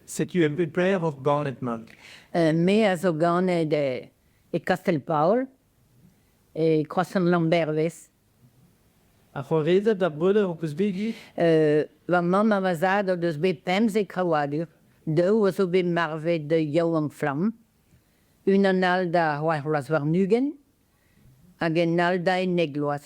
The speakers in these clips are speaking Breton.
Setu un peu paeroc'h ganet-mat. Me a zo ganet e Kastell-Paol, e Kroazhent-Lambervez. Ar c'hoarezed ar breudeur ho peus bet dit? Va mamm ha va zad o deus bet pemzek krouadur, daou a zo bet marvet yaouank-flamm, unan all da c'hwec'h vloaz warn-ugent hag un all da ennek bloaz.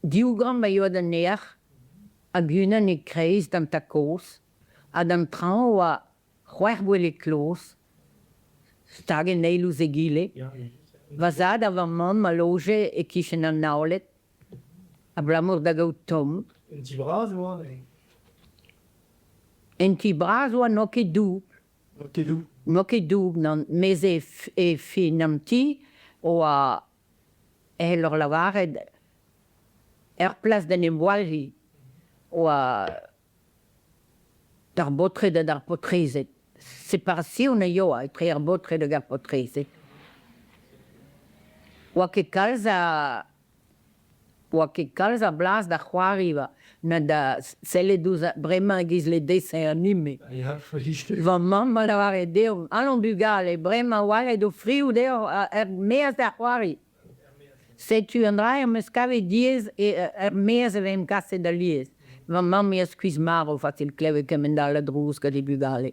Diougamp a yoa d'an ear hag unan e-kreiz d'an ta koz, ha d'an traoñ a oa c'hwec'h gwele kloz stag en eil ouz egile. Va zad ha va mamm a loje e-kichen an naoled abalamour da gaout tomm. En ti bras oa neuze? En ti bras oa n'oa ket doubl. N'oa ket doubl? N'oa ket doubl, nann. Mez e fin an ti oa e lor lavaret, er plas d'en em voalhi, oa d'ar baotred ha d'ar paotrezed. Separation a ioa etre ar baotred hag ar paotrezed. Oa ket kalz a 'oa ket kalz a blas da c'hoariva na da sellet ouzh bremañ e-giz ledese anime. Va mamm a lavare deomp, Alon bugale, bremañ 'walc'het ho frioù deoc'h er-maez da c'hoari. Setu un dra em eus kavet diaes, er-maez e vemp kaset alies. Va mammig a skuizh marv pa ket klevet kement-all a drouz gant he bugale.